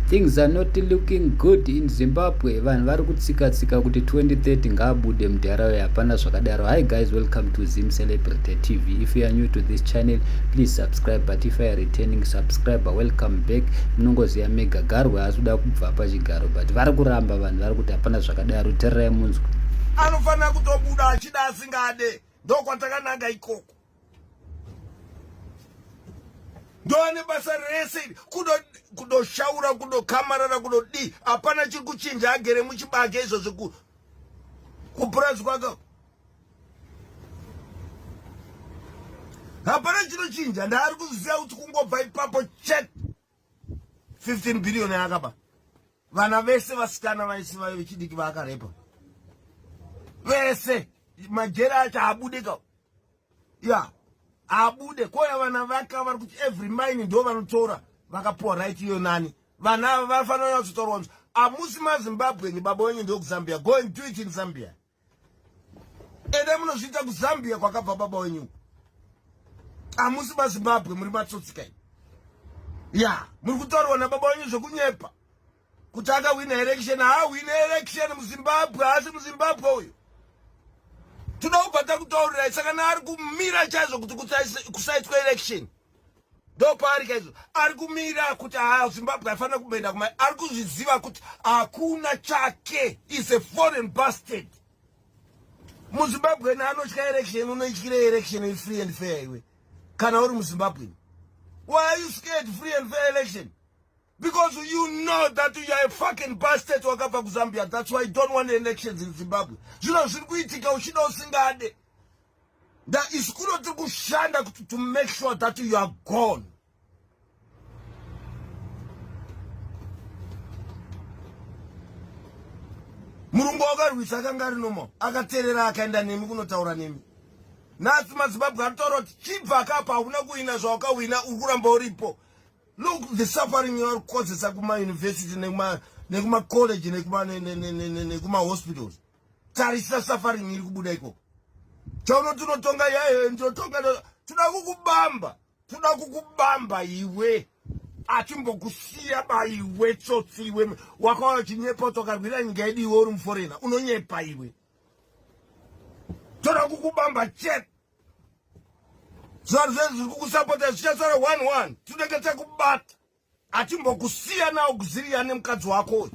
Things are not looking good in Zimbabwe. Vanhu vari kutsika tsika kuti 2030 ngaabude mudhara uye hapana zvakadaro. Hi guys, welcome to Zim Celebrity TV. If you are new to this channel, please subscribe. But if you are returning subscriber, welcome back. Munongoziva mega garwe haasi kuda kubva pachigaro but vari kuramba vanhu vari kuti hapana zvakadaro. Tererai munzwe. Anofanira kutobuda achida asingade. Ndokwatakanaga ikoko. ndoane basa rese iri kudoshaura kudokamarara kudodii hapana chiri kuchinja agere muchibage izvozvi kupurazi kwake hapana chinochinja ndaari kuzviziva kuti kungobva ipapo chete 15 billion yakaba vana vese vasikana vaisi vayo vechidiki vaakarepa vese majeri acho haabude ka ya haabude koya vana vaka vari kuti every mine ndo vanotora vakapuwa right iyo nani vana ava vanofanira kunyatsotorowanzwa amusi mazimbabwe ni baba wenyu ndokuzambia go and do it in zambia ede munozviita kuzambia kwakabva baba wenyu hamusi mazimbabwe muri matsotsi kai ya muri kutaurwa nababa wenyu zvekunyepa kuti akahwina election haahwine election muzimbabwe haasi muzimbabwe uyu tinoubva takutaurirai sakana ari kumira chaizvo kuti kusaitwa election ndopaari kaizvo ari kumira kuti haa zimbabwe aifanira kumboenda kumai ari kuzviziva kuti hakuna chake is a foreign bastard muzimbabweni anotya election unoityira election is free and fair iwe kana uri muzimbabweni why are you scared free and fair election because you know that you are a fucking bastard wakabva kuzambia that's why you don't want elections in zimbabwe zvino zviri kuitika uchida usingade That is kuno tiri kushanda kuti to make sure that you are gone. Murungu wakarwisa akanga ari normal akaterera akaenda nemi kunotaura nemi. Nhasi madzibabwe aritaura kuti chibva akapa hakuna kuhina zvawakahwina uri kuramba uripo. Look the suffering you are causing kuma university nekuma nekuma college nekuma nekuma hospitals. tarisa suffering iri kubuda ikoko chaunoti unotonga yayo ndotonga toda kukubamba toda kukubamba iwe achimbokusiya baiwe tsotsi iwe wakauya uchinyepa kuti wakarwira nyika yedu iwe uri muforena unonyepa iwe toda kukubamba chete zvaru zvezviri kukusapota zvichasara one one tinenge takubata atimbokusiya nawo kuziriya nemukadzi wako uyu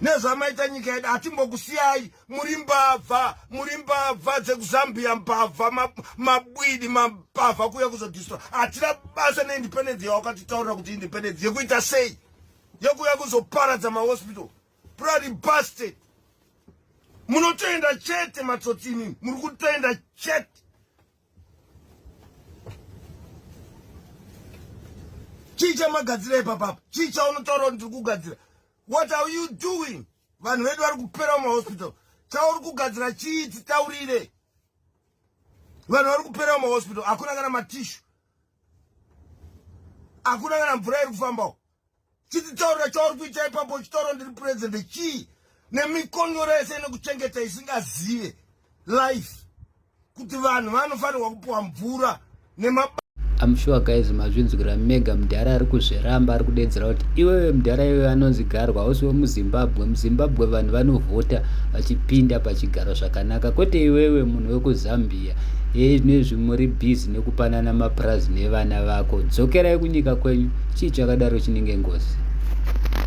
nezvamaita nyika yedu atimbokusiyai muri mbavha muri mbavha dzekuzambia mbavha mabwidi mambavha kuya kuzodistra hatina basa neindependence yawakatitaurira kuti independence yekuita sei yekuya kuzoparadza mahospital prary basted munotoenda chete matsotsini muri kutoenda chete chii chamagadzira ipapapa chii chaunotaura kuti ndiri kugadzira what are you doing vanhu vedu vari kupera mumahospital chauri kugadzira chii titaurire vanhu vari kupera mumahospital hakuna kana matishu hakuna kana mvura iri kufambawo chititaurira chauri kuita ipapo uchitaura ndiri president chii nemikonyoro yese inekuchengeta isingazive life kuti vanhu vanofanirwa kupiwa mvura nema I'm sure guys mazvinzwira mega mudhara ari kuzviramba ari kudedzera kuti iwewe mudhara iwewe anonzi garwa hausi wemuzimbabwe muzimbabwe vanhu vanovhota vachipinda pachigaro zvakanaka kwete iwewe munhu wekuzambia zviya hei zvinezvi muri busy nekupanana mapurazi nevana vako dzokerai kunyika kwenyu chii chakadaro chinenge ngozi